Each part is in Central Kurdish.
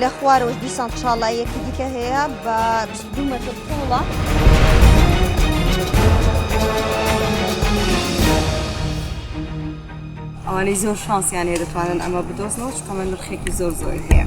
لە خوارەوەش دیسان چاڵاییەکی دیکە هەیە بە 22 مەتر قوڵە. ئەوانەی زۆر شانسیان هەیە دەتوانن ئەمە بدۆزنەوە چکەمە نرخێکی زۆر زۆری هەیە.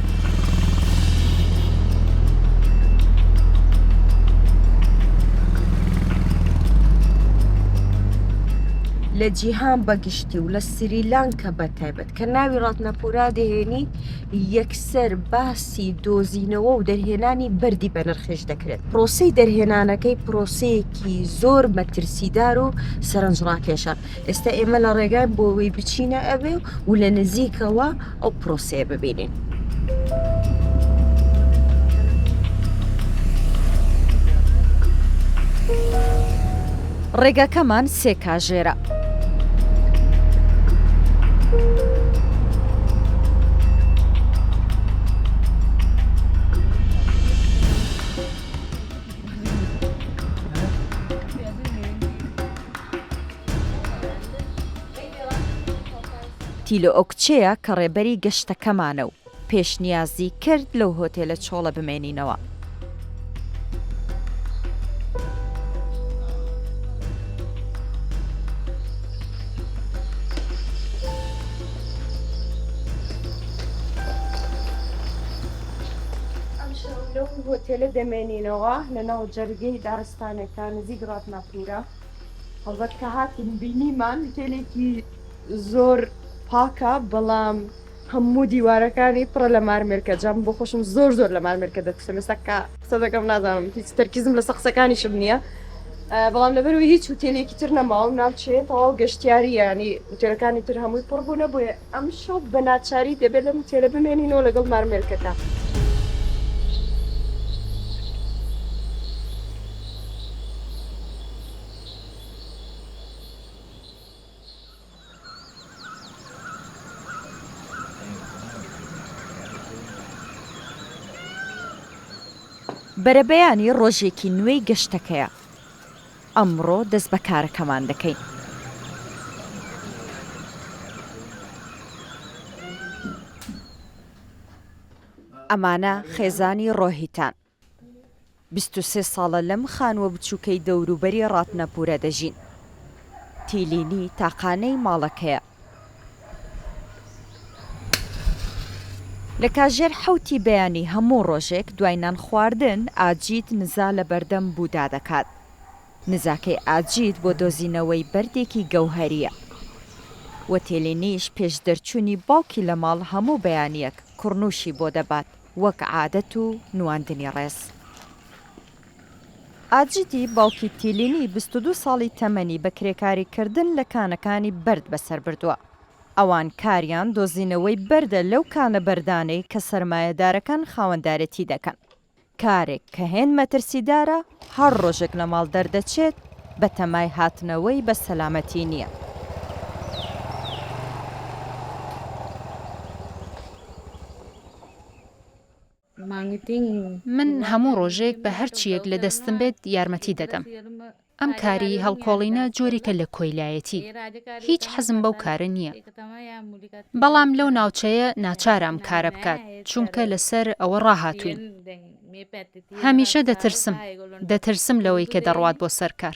لە جیهان بەگشتی و لە سریلانکە بە تایبەت کە ناوی ڕاتنەپورا دەهێنی یەکسەر باسی دۆزینەوە و دەرهێنانی بەردی بەنرخێش دەکرێت پرۆسی دەرهێنانەکەی پرۆسەیەکی زۆر مەترسیدار و سەرنجڕاکێشە ئێستا ئێمە لە ڕێگاین بۆ ئەوەی بچینە ئەوێ و لە نزیکەوە ئەو پرۆسەیە ببینین. ڕێگاکەمان سێ کاژێرە. تیلۆکچێە کە ڕێبەری گەشتەکەمانە و پێشنیازی کرد لەو هۆتێلە چۆڵە بمێنینەوە. ئەمشەو لەو هۆتێلە دەمێنینەوە لەناو جەرگەی دارستانێکدا نزیک ڕاتناپۆڵ. سوورە هەڵبەت کە هاتین بینیمان هوتێلێکی زۆر پاکە بەڵام هەموو دیوارەکانی پڕە لە مارمێرکە جام بۆ خۆشم زۆر زۆر لە مارمێرکە دەترسم ئێستا کە قسە دەکەم نازانم هیچ تەرکیزم لە سەقسەکانیشم نییە بەڵام لەبەروی هیچ وتێلێکی تر نەماوم ناوچێت تەواو گەشتیاریانی وتێلەکانی تر هەمووی پڕبوونە بۆیە ئەمشەو بە ناچاری دەبێت لەم ئوتێلە بمێنینەوە لەگەڵ مارمێلکەکە. بەرەبەیانی ڕۆژێکی نوێی گەشتەکەیە. ئەمڕۆ دەست بە کارەکەمان دەکەین. ئەمانە خێزانی ڕۆهیتان. بیست و سێ ساڵە لەم خانووە بچووکەی دەوروبەری ڕاتنەپوورە دەژین. تیلینی تاقانەی ماڵەکەیە. لە کاژێر حەوتی بەیانی هەموو ڕۆژێک دوای نان خواردن ئاجیت نزا لە بەردەم بودا دەکات. نزاکەی ئاجیت بۆ دۆزینەوەی بەردێکی گەوهەرییە. وەتێلینیش پێش دەرچوونی باوکی لە ماڵ هەموو بەیانییەک کوڕنووشی بۆ دەبات وەک عادەت و نواندنی ڕێز. ئاجیتی باوکی تیلینی بیست و دوو ساڵی تەمەنی بە کرێکاری کردن لە کانەکانی بەرد بەسەر بردووە. ئەوان کاریان دۆزینەوەی بەردە لەو کانە بەردانەی کە سەرمایەدارەکان خاوەندارێتی دەکەن. کارێک کە هێند مەترسیدارە، هەر ڕۆژێک لە ماڵ دەردەچێت بەتەمای هاتنەوەی بە سەلامەتی نییە. من هەموو ڕۆژێک بە هەر چییەک لە دەستم بێت یارمەتی دەدەم. ئەم کاری هەڵکۆڵینە جۆرێکە لە کۆیلایەتی. هیچ حەزم بەو کارە نییە. بەڵام لەو ناوچەیە ناچارە ئەم کارە بکات، چونکە لەسەر ئەوە ڕاهاتووین. هەمیشە دەترسم. دەترسم لەوەی کە دەڕوات بۆ سەر کار.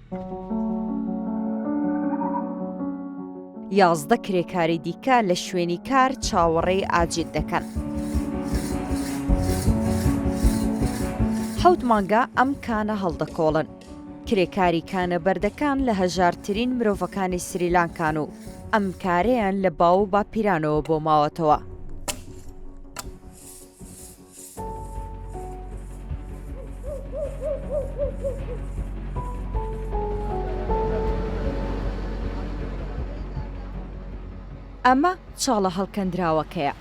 یازدە کرێکاری دیکە لە شوێنی کار چاوەڕێی ئاجیل دەکەن. حەوت مانگە ئەم کانە هەڵدەکۆڵن. کرێکاری کانە بەردەکان لە هەژارترین مرۆڤەکانی سریلانکان و ئەم کارەیان لە باو و باپیرانەوە بۆ ماوەتەوە. ئەمە چاڵە هەڵکەندراوەکەیە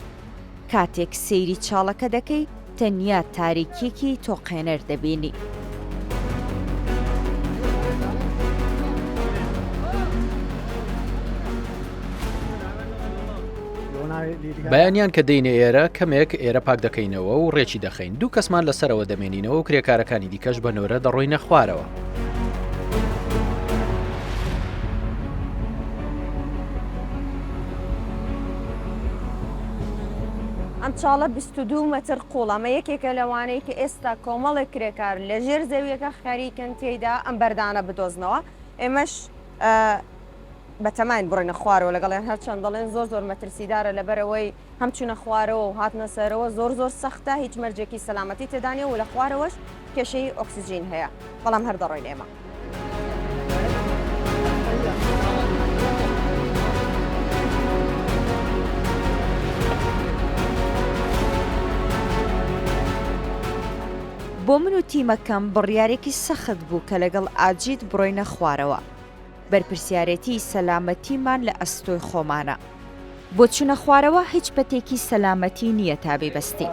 کاتێک سەیری چاڵەکە دەکەی تەنیا تاریکیەکی تۆقێنەر دەبینی. بەیانیان کە دەینە ئێرە کەمێک ئێرە پاک دەکەینەوە و ڕێکی دەخەین دوو کەسمان لەسەرەوە دەمێنینەوە و کرێکارەکانی دیکەش بە نۆرە دەڕۆینە خوارەوە. ئەم چاڵە 22 مەتر قوڵەمە یەکێکە لەوانەیە کە ئێستا کۆمەڵێک کرێکار لە ژێر زەویەکە خەریکن تێیدا ئەم بەردانە بدۆزنەوە ئێمەش بەتەماین بڕۆینە خوارەوە لەگەڵیان هەرچەند دەڵێن زۆر زۆر مەترسیدارە لەبەرئەوەی هەم چونە خوارەوە و هاتنە سەرەوە زۆر زۆر سەختە هیچ مەرجێکی سەلامەتی تێدانیە و لەخوارەوەش کێشەی ئۆکسجین هەیە بەڵام هەر دەڕۆین ئێمە. بۆ من و تیمەکەم بڕیارێکی سەخت بوو کە لەگەڵ ئاجیت بڕۆینە خوارەوە، بەرپرسیارێتیی سەلامەتیمان لە ئەستۆی خۆمانە. بۆچونە خوارەوە هیچ پەتێکی سەلامەتی نییە تا بیبەستین.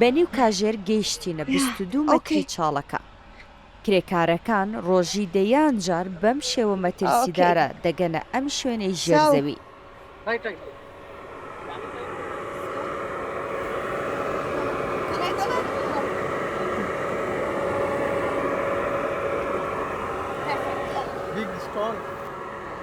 بەنیو کاژێر گەیشتینە بیست و دوو مەتری چاڵەکە. کرێکارەکان ڕۆژی دەیان جار بەم شێوە مەترسیدارە دەگەنە ئەم شوێنەی ژێر زەوی.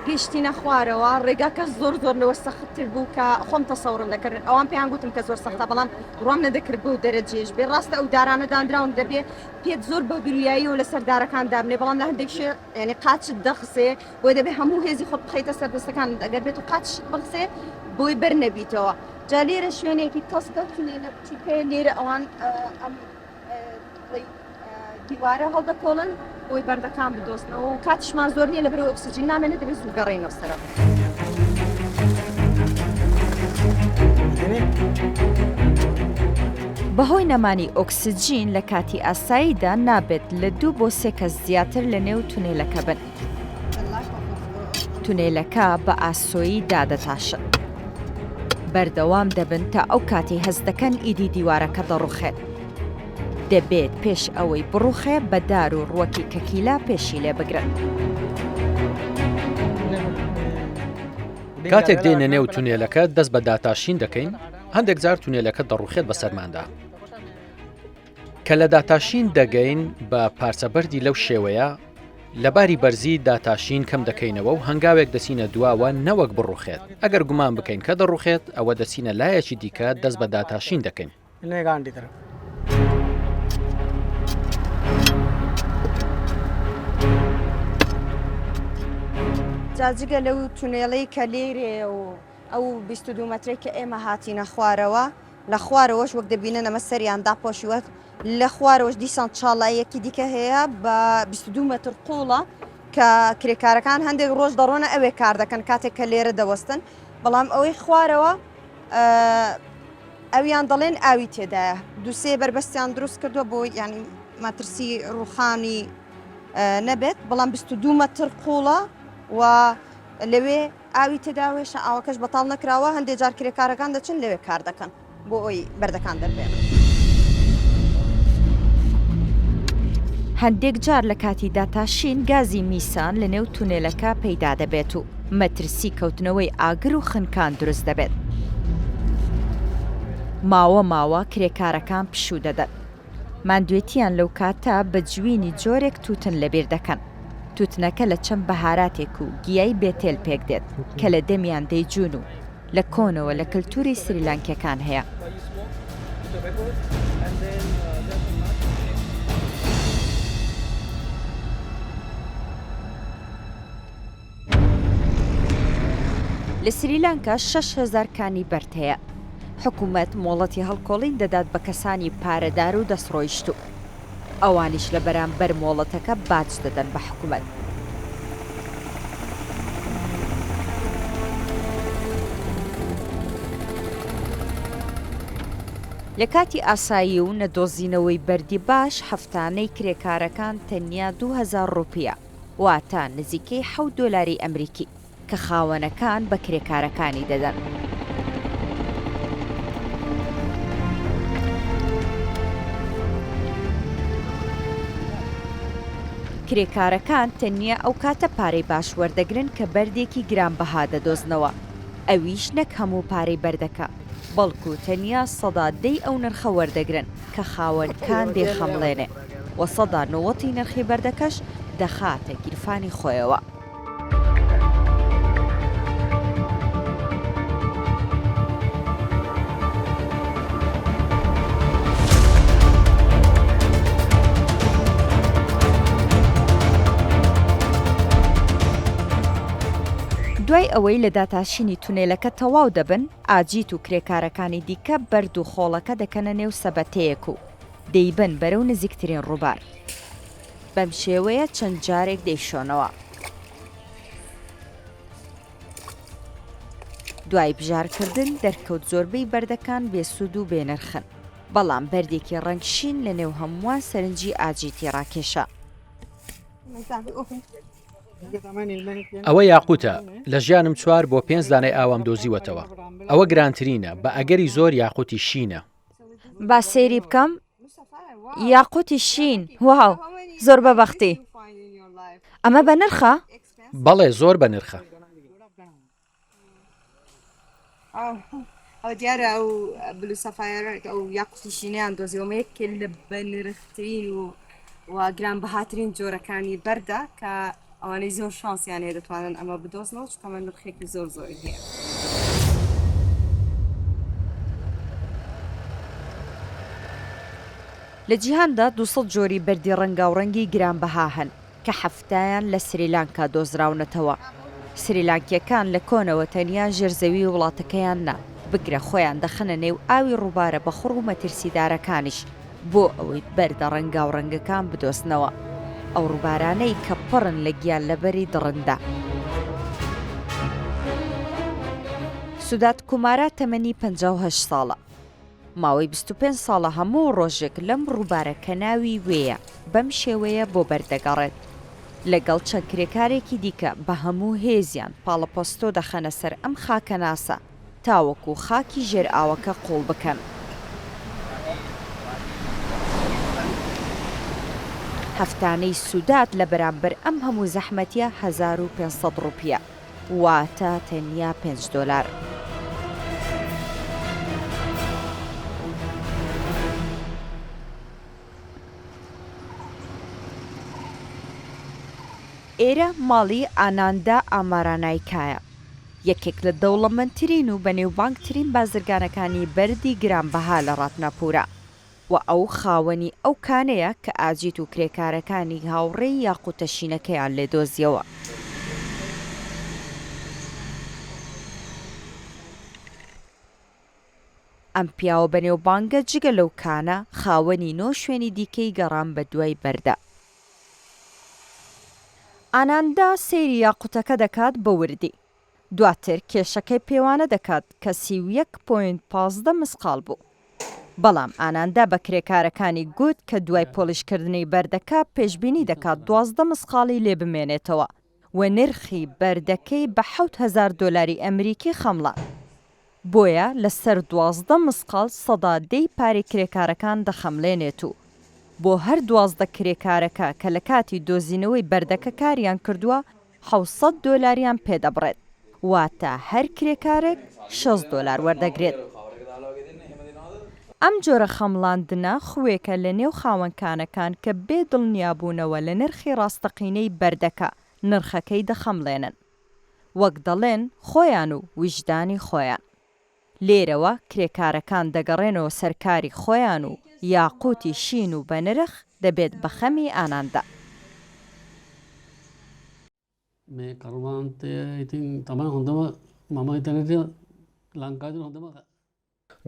گەیشتینە خوارەوە، ڕێگاکە زۆر زۆر لەوە سەختتر بوو کە خۆم تەسەوڕم دەکرد، ئەوان پێیان گوتم کە زۆر سەختە، بەڵام بڕوام نەدەکرد بەو دەرەجەیەش بێت، ڕاستە ئەو دارانە دانراون دەبێت، پێت زۆر بە گرویایی و لەسەر دارەکان دابنێ بەڵام لە هەندێک شوێ یانی قاچت دەخسێ بۆیە دەبێ هەموو هێزی خۆت بخەیتە سەر دەستەکانت ئەگەر بێت و قاچشت بخسێ بۆی بەر نەبیتەوە جا لێرە شوێنێکی تەسکە تونێلە بچووکەیە لێرە ئەوان ئەم بڵێی دیوارە هەڵدەکۆڵن بۆی بەردەکان بدۆزنەوە و کاتیشمان زۆر نییە لەبەرئەوە ئۆکسجین نامێنێ دەبێ زوو گەڕێینەوە سەرەوە. بەهۆی نەمانی ئۆکسجین لە کاتی ئاساییدا نابێت لە دوو بۆ سێ کەس زیاتر لە نێو تونێلەکە بن. تونێلەکە بە ئاسۆیی دادەتاشن. بەردەوام دەبن تا ئەو کاتی هەست دەکەن ئیدی دیوارەکە دەڕوخێت دەبێت پێش ئەوەی بڕوخێ بە دار و ڕوەکی کەکیلا پێشی لێ بگرن. کاتێک دێنە نێو تونێلەکە دەست بە داتاشین دەکەین هەندێک جار تونێلەکە دەڕوخێت بە سەرماندا کە لە داتاشین دەگەین بە پارچە بەردی لەو شێوەیە لە باری بەرزی داتاشین کەم دەکەینەوە و هەنگاوێک دەچینە دواوە نەوەک بڕوخێت ئەگەر گومان بکەین کە دەڕوخێت ئەوە دەچینە لایەکی دیکە دەست بە داتاشین دەکەین نێگان دیدرم. جاجگە لەو تونێڵەی کە لێرێ و ئەو 22 مەترێک کە ئێمە هاتینە خوارەوە لە خوارەوەش وەک دەبینن ئەمە سەریان داپۆشیوەت لە خوارەوەش دیسان چاڵایەکی دیکە هەیە بە 22 مەتر قوڵە کە کرێکارەکان هەندێک ڕۆژ دەڕۆنە ئەوێ کار دەکەن کاتێک کە لێرە دەوەستن بەڵام ئەوەی خوارەوە ئەویان دەڵێن ئاوی تێدایە دوو سێ بەربەستیان دروست کردووە بۆ یانی مەترسی ڕوخانی نەبێت بەڵام بیست و دوو مەتر قوڵە و لەوێ ئاوی تێداوێشە ئاوەکەش بەتاڵ نەکراوە هەندێک جار کرێکارەکان دەچن لەوێ کار دەکەن بۆ ئەوی بەردەکان دەربێنن. هەندێک جار لە کاتی داتاشین گازی میسان لە نێو تونێلەکە پەیدا دەبێت و مەترسی کەوتنەوەی ئاگر و خنکان دروست دەبێت. ماوە ماوە کرێکارەکان پشوو دەدەن. ماندوێتییان لەو کاتە بە جوینی جۆرێک تووتن لەبیر دەکەن. تووتنەکە لە چەند بەهاراتێک و گیای بێتێل پێک دێت کە لە دەمیان دەیجوون و لە کۆنەوە لە کەلتووری سریلانکییەکان هەیە. لە سریلانکا شەش هەزار کانی بەرد هەیە، حکومەت مۆڵەتی هەڵکۆڵین دەدات بە کەسانی پارەدار و دەستڕۆیشتوو، ئەوانیش لە بەرامبەر مۆڵەتەکە باج دەدەن بە حکومەت. لە کاتی ئاسایی و نەدۆزینەوەی بەردی باش، هەفتانەی کرێکارەکان تەنیا دوو هەزار ڕوپییە. واتە نزیکەی حەوت دۆلاری ئەمریکی، کە خاوەنەکان بە کرێکارەکانی دەدەن. کرێکارەکان تەنیا ئەو کاتە پارەی باش وەردەگرن کە بەردێکی گرانبەها دەدۆزنەوە، ئەویش نەک هەموو پارەی بەردەکە، بەڵکو تەنیا سەدا دەی ئەو نرخە وەردەگرن کە خاوەنکان دەیخەمڵێنێ. و سەدا نەوەتی نرخی بەردەکەش دەخاتە گیرفانی خۆیەوە. دوای ئەوەی لە داتاشینی تونێلەکە تەواو دەبن، ئاجیت و کرێکارەکانی دیکە بەرد و خۆڵەکە دەکەنە نێو سەبەتەیەک و دەیبەن بەرەو نزیکترین ڕووبار. بەم شێوەیە چەند جارێک دەیشۆنەوە. دوای بژارکردن دەرکەوت زۆربەی بەردەکان بێسوود و بێنرخن، بەڵام بەردێکی ڕەنگ شین لەنێو هەمووان سەرنجی ئاجیتی ڕاکێشا. ئەوە یاقووتە، لە ژیانم چوار بۆ پێنج دانەی ئاوام دۆزیوەتەوە. ئەوە گرانترینە، بە ئەگەری زۆر یاقووتی شینە. با سەیری بکەم یاقوتی شین واو زۆر بە بەختی ئەمە بە نرخە؟ بەڵێ زۆر بە نرخە ئەو دیارە ئەو بلو سەفاەرە ئەو یاقوتیشینیان دۆزیەوەمە یەک لە بە نرخترین و گران بەهاترین جۆرەکانی بەردە کە ئەوانەی زۆر شانسیان هەیە دەتوانن ئەمە بدۆزنەوە چونکە ئەمە نرخێکی زۆر زۆری هەیە. لە جیهاندا دوو سەد جۆری بەردی ڕەنگاوڕەنگی گرانبەها هەن کە حەفتایان لە سریلانکا دۆزراونەتەوە. سریلانکییەکان لە کۆنەوە تەنیا ژێر زەویی وڵاتەکەیان نا، بگرە خۆیان دەخەنە نێو ئاوی ڕووبارە بەخوڕ و مەترسیدارەکانیش، بۆ ئەوەی بەردە ڕەنگاوڕەنگەکان بدۆزنەوە، ئەو ڕووبارانەی کە پڕن لە گیانلەبەری دڕندە. سودات کومارا تەمەنی پەنجا و هەشت ساڵە، ماوەی بیست و پێنج ساڵە هەموو ڕۆژێک لەم ڕووبارە کە ناوی وێیە بەم شێوەیە بۆ بەر دەگەڕێت، لەگەڵ چەند کرێکارێکی دیکە بە هەموو هێزیان پاڵەپەستۆ دەخەنە سەر ئەم خاکەناسە. تاوەکو خاکی ژێر ئاوەکە قوڵ بکەن. هەفتانەی سودات لە بەرامبەر ئەم هەموو زەحمەتیە هەزار و پێنج سەد ڕوپیە واتە تەنیا پێنج دۆلار. ئێرە ماڵی ئاناندا ئامارانایکایە. یەکێک لە دەوڵەمەندترین و بەنێوبانگترین بازرگانەکانی بەردی گرانبەها لە ڕاتناپوورە و ئەو خاوەنی ئەو کانەیە کە ئاجیت و کرێکارەکانی هاوڕێی یاقووتە شینەکەیان لێ دۆزییەوە. ئەم پیاوە بەنێوبانگە جگە لەو کانە، خاوەنی نۆ شوێنی دیکەی گەڕان بەدوای بەردە. ئاناندا سەیری یاقوتەکە دەکات بە وردی. دواتر کێشەکەی پێوانە دەکات کە سی و یەک پۆینت پازدە مسقاڵ بوو. بەڵام ئاناندا بە کرێکارەکانی گوت کە دوای پۆڵیشکردنی بەردەکە پێشبینی دەکات دوازدە مسقاڵی لێ بمێنێتەوە. و نرخی بەردەکەی بە حەوت هەزار دۆلاری ئەمریکی خەمڵا. بۆیە لە سەر دوازدە مسقاڵ سەدا دەی پارەی کرێکارەکان دەخەملێنێت و بۆ هەر دوازدە کرێکارەکە کە لە کاتی دۆزینەوەی بەردەکە کاریان کردووە حەوت سەد دۆلاریان پێ دەبڕێت. واتە هەر کرێکارێک شەست دۆلار وەردەگرێت. ئەم جۆرە خەمڵاندنە خوێکە لە نێو خاوەن کانەکان کە بێ دڵنیابوونەوە لە نرخی ڕاستەقینەی بەردەکە، نرخەکەی دەخەمڵێنن. وەک دەڵێن خۆیان و ویژدانی خۆیان. لێرەوە کرێکارەکان دەگەڕێنەوە سەر کاری خۆیان و یاقووتی شین و بەنرخ دەبێت بە خەمی ئاناندا.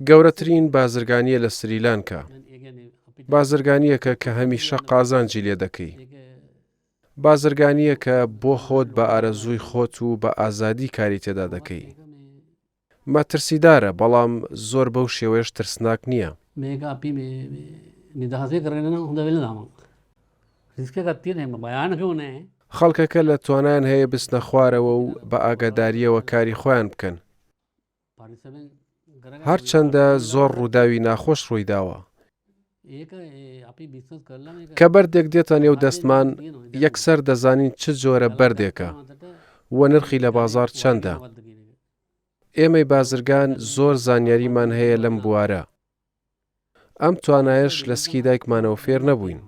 گەورەترین بازرگانییە لە سریلانکا، بازرگانییەکە کە هەمیشە قازانجی لێ دەکەی، بازرگانییەکە بۆ خۆت بە ئارەزووی خۆت و بە ئازادی کاری تێدا دەکەی. مەترسیدارە بەڵام زۆر بەو شێوەیەش ترسناک نییە. مێگا پی بێ نداهزێ گڕێنە ناو دەوێ لەناوە ریسکەکە پێ نێمە بەیانەکە و نێ خەڵکەکە لە توانایان هەیە بچنە خوارەوە و بە ئاگادارییەوە کاری خۆیان بکەن. هەرچەندە زۆر ڕووداوی ناخۆش ڕووی داوە. کە بەردێک دێتە نێو دەستمان یەکسەر دەزانین چ جۆرە بەردێکە و نرخی لە بازار چەندە. ئێمەی بازرگان زۆر زانیاریمان هەیە لەم بوارە ئەم توانایەش لە سکی دایکمانەوە فێر نەبووین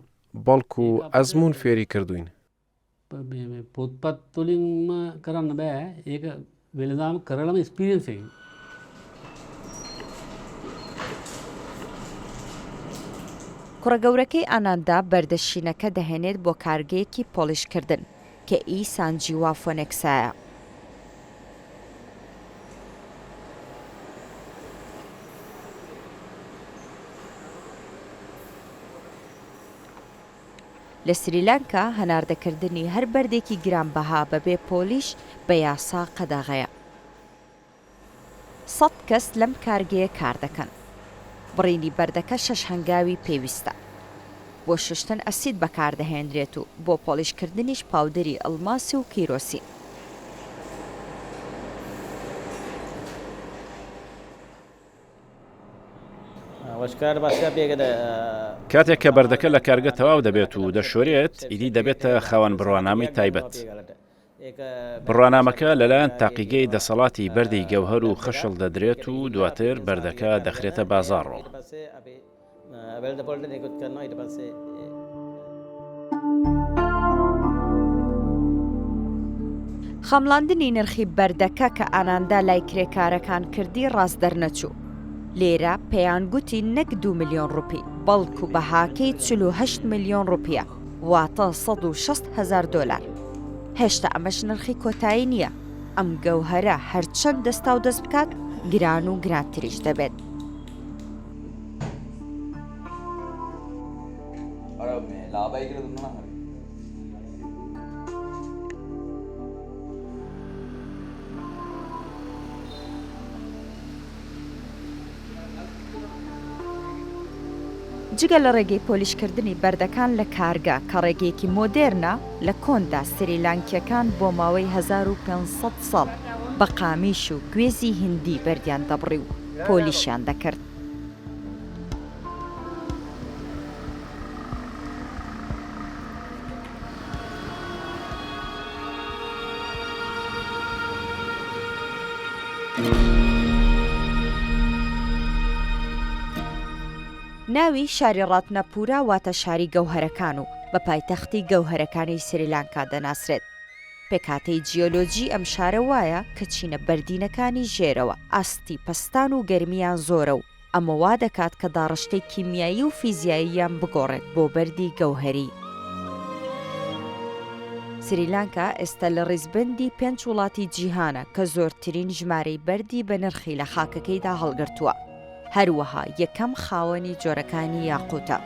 بەڵکو ئەزمون فێری کردوین کوڕە گەورەکەی ئاناندا بەردە شینەکە دەهێنێت بۆ کارگەیەکی پۆڵیشکردن. کە ئی سانجی وا فۆنێکسایە. لە سریلانکا هەناردەکردنی هەر بەردێکی گرانبەها بەبێ پۆلیش بە یاسا قەدەغەیە. سەد کەس لەم کارگەیە کار دەکەن. بڕینی بەردەکە شەش هەنگاوی پێویستە. بۆ شوشتن ئەسید بەکاردەهێنرێت و بۆ پۆڵیشکردنیش پاودەری ئەڵماسی و کیرۆسین. کاتێک کە بەردەکە لە کارگە تەواو دەبێت و دەشۆرێت، ئیدی دەبێتە خاوەن بڕوانامەی تایبەت. بڕوانامەکە لەلایەن تاقیگەی دەسەڵاتی بەردی گەوهەر و خەشڵ دەدرێت و دواتر بەردەکە دەخرێتە بازاڕۆ. خەمڵاندنی نرخی بەردەکە کە ئاناندا لای کرێکارەکان کردی ڕاست دەرنەچوو لێرە پێیان گوتی نەک دو میلیۆن ڕوپی بەڵکو بەهاکەی چه ملیۆن ڕوپە واتە سەد و شەست هەزار دۆلار. هێشتا ئەمەش نرخی کۆتایی نییە، ئەم گەوهەرە هەرچەند دەستاو دەست بکات گران و گرانتریش دەبێت. جگە لە ڕێگەی پۆلیشکردنی بەردەکان لە کارگە، کە ڕێگەیەکی مۆدێرنە، لە کۆندا سریلانکییەکان بۆ ماوەی هەزار و پێنج سەد ساڵ بە قامیش و گوێزی هیندی بەردیان دەبڕی و پۆلیشیان دەکرد. ناوی شاری ڕاتناپورا واتە شاری گەوهەرەکان و بە پایتەختی گەوهەرەکانی سریلانکا دەناسرێت. پێکهاتەی جیۆلۆجی ئەم شارە وایە کە چینە بەردینەکانی ژێرەوە ئاستی پەستان و گەرمییان زۆرە و ئەمە وا دەکات کە داڕشتەی کیمیایی و فیزیاییان بگۆڕێت بۆ بەردی گەوهەری. سریلانکا ئێستا لە ڕیزبەندی پێنج وڵاتی جیهانە کە زۆرترین ژمارەی بەردی بەنرخی لە خاکەکەیدا هەڵگرتووە، هەروەها یەکەم خاوەنی جۆرەکانی یاقووتە.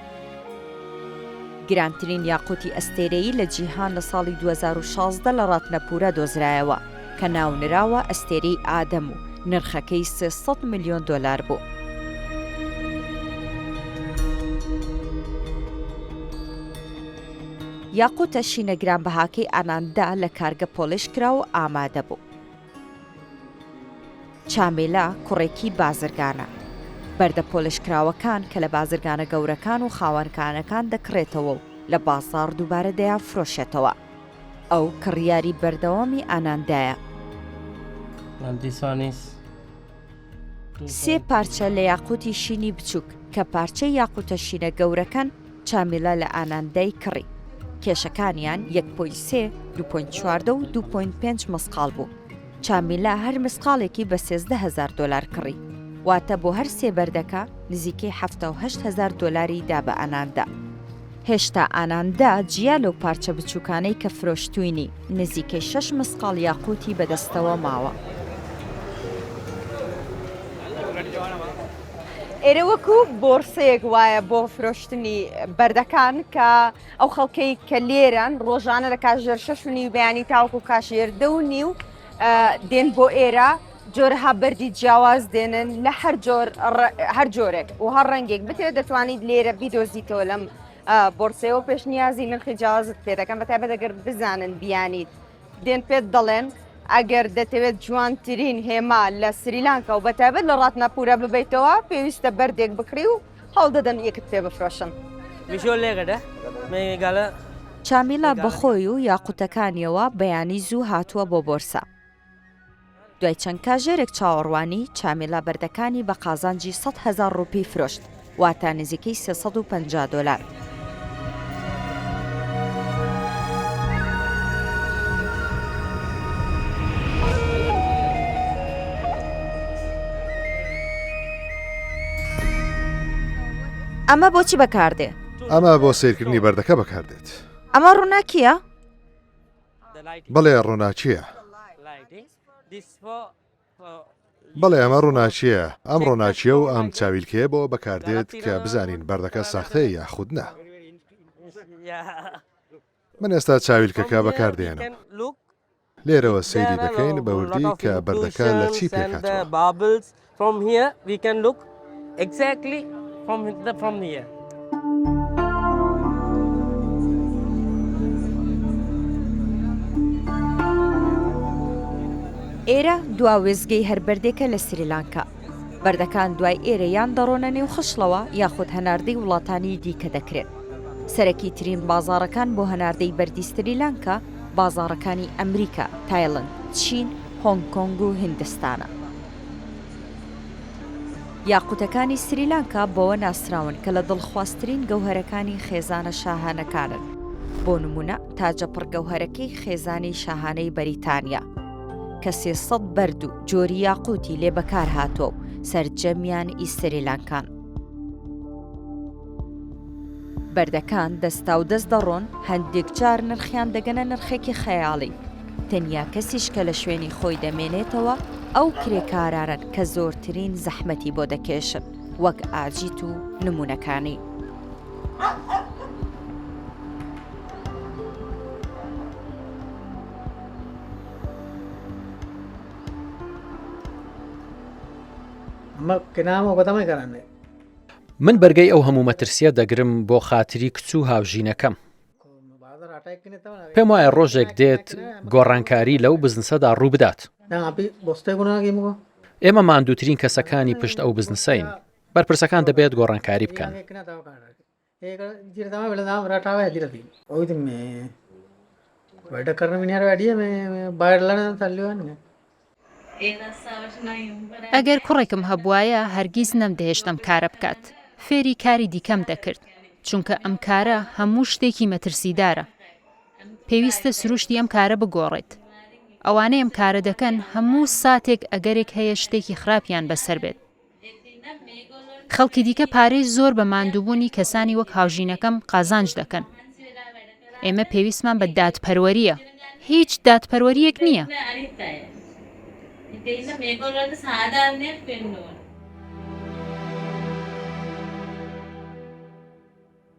گرانترین یاقووتی ئەستێرەیی لە جیهان لە ساڵی دوو هەزار و شازدە لە ڕاتنەپوورا دۆزرایەوە، کە ناونراوە ئەستێرەی ئادەم و نرخەکەی سێ سەد ملیۆن دۆلار بوو. یاقووتە شینە گرانبەهاکەی ئاناندا لە کارگە پۆڵێشکرا و ئامادە بوو. چامێلا کوڕێکی بازرگانە. بەردە پۆلێشکراوەکان کە لە بازرگانە گەورەکان و خاوەنکانەکان دەکڕێتەوە و لە بازاڕ دووبارە دەیانفرۆشێتەوە. ئەو کڕیاری بەردەوامی ئاناندایە. سێ پارچە لە یاقوتی شینی بچووک کە پارچەی یاقوتە شینە گەورەکان چامیلا لە ئاناندای کڕی. کێشەکانیان 1.3 2.4 و 2.5 مەسقال بوو. چامیلا هەر مسقاڵێکی بە سێزدە هەزار دۆلار کڕی، واتە بۆ هەر سێ بەردەکە نزیکەی حەفتا و هەشت هەزار دۆلاری دا بە ئاناندا. هێشتا ئاناندا جیا لەو پارچە بچووکانەی کە فرۆشتووینی، نزیکەی شەش مسقاڵ یاقووتی بە دەستەوە ماوە. ئێرە وەکوو بۆرسەیەک وایە بۆ فرۆشتنی بەردەکان کە. ئەو خەڵکەی کە لێرەن ڕۆژانە لە کاژێر شەش و نیو بەیانی تاوەکو کاشێر دە و نیو دێن بۆ ئێرە جۆرەها بەری جیاواز دێنن لە هەر جۆر هەر جۆرێک و هەر ڕەنگێک بتێ دەتوانیت لێرە بیدۆزیتەوە لەم بۆرسەوە پێشنیازی نرخی جیاوازت پێ دەکەم بە تایبەت دەگەر بزانن بیانیت دێن پێت دەڵێن ئەگەر دەتەوێت جوانترین هێما لە سریلانکە و بەتابەت لە ڕاتناپورە ببیتەوە پێویستە بەردێک بکڕی و هەوڵدەدەم ئێکت پێ بفرۆشم. میشۆ لێگەدە مێگالە. چامیلا بەخۆی و یاقوتەکانیەوە بەیانی زوو هاتووە بۆ بۆرسا. دوای چەند کاژێرێک چاوەڕوانی، چامیلا بەردەکانی بە قازانجی سەد هەزار ڕوپی فرۆشت، واتە نزیکەی سێ سەد و پەنجا دۆلار. ئەمە بۆچی بەکاردێ ئەمە بۆ سیرکردنی بەردەکە بەکاردێت ئەمە ڕووناکیە بڵێ ڕووناچیە بەڵێ ئەمە ڕووناکییە، ئەم ڕووناکییە و ئەم چاویلکەیە بۆوە بەکاردێت کە بزانین بەردەکە ساختەیە یاخود نا. من ئێستا چاویلکەکە بەکاردێنم. لێرەوە سەیری دەکەین بەوردی کە بەردەکە لە چی پێکهاتووە. Exactly from the from here. ئێرە دوا وێزگەی هەر بەردێکە لە سریلانکا بەردەکان دوای ئێرە یان دەڕۆنە نێو خشڵەوە یاخود هەناردەی وڵاتانی دیکە دەکرێت سەرەکی ترین بازارەکان بۆ هەناردەی بەردی سریلانکا بازارەکانی ئەمریکا تایلند چین هۆنگ کۆنگ و هندستانە یاقوتەکانی سریلانکا بەوە ناسراون کە لە دڵخوازترین گەوهەرەکانی خێزانە شاهانەکانن، بۆ نموونە تاجە پڕگەوهەرەکەی خێزانی شاهانەی بەریتانیا کە سێ سەد بەرد و جۆری یاقوتی لێ بەکارهاتووە و سەرجەمیان ئی سریلانکان. بەردەکان دەستاودەست دەڕۆن، هەندێک جار نرخیان دەگەنە نرخێکی خەیاڵی، تەنیا کەسیش کە لە شوێنی خۆی دەمێنێتەوە ئەو کرێکارانەن کە زۆرترین زەحمەتی بۆ دەکێشن وەک ئاجیت و نموونەکانی. من بەرگەی ئەو هەموو مەترسیە دەگرم بۆ خاتری کچ و هاوژینەکەم پێم وایە ڕۆژێک دێت گۆڕانکاری لەو بزنسەدا ڕوو بدات ئێمە ماندووترین کەسەکانی پشت ئەو بزنسین بەرپرسەکان دەبێت گۆڕانکاری بکەن ئەگەر کوڕێکم هەبوایە هەرگیز نەمدەهێشت ئەم کارە بکات فێری کاری دیکەم دەکرد چونکە ئەم کارە هەموو شتێکی مەترسیدارە پێویستە سروشتی ئەم کارە بگۆڕێت ئەوانەی ئەم کارە دەکەن هەموو ساتێک ئەگەرێک هەیە شتێکی خراپیان بەسەر بێت خەڵکی دیکە پارەی زۆر بە ماندووبوونی کەسانی وەک هاوژینەکەم قازانج دەکەن. ئێمە پێویستمان بە دادپەروەرییە. هیچ دادپەروەرییەک نییە.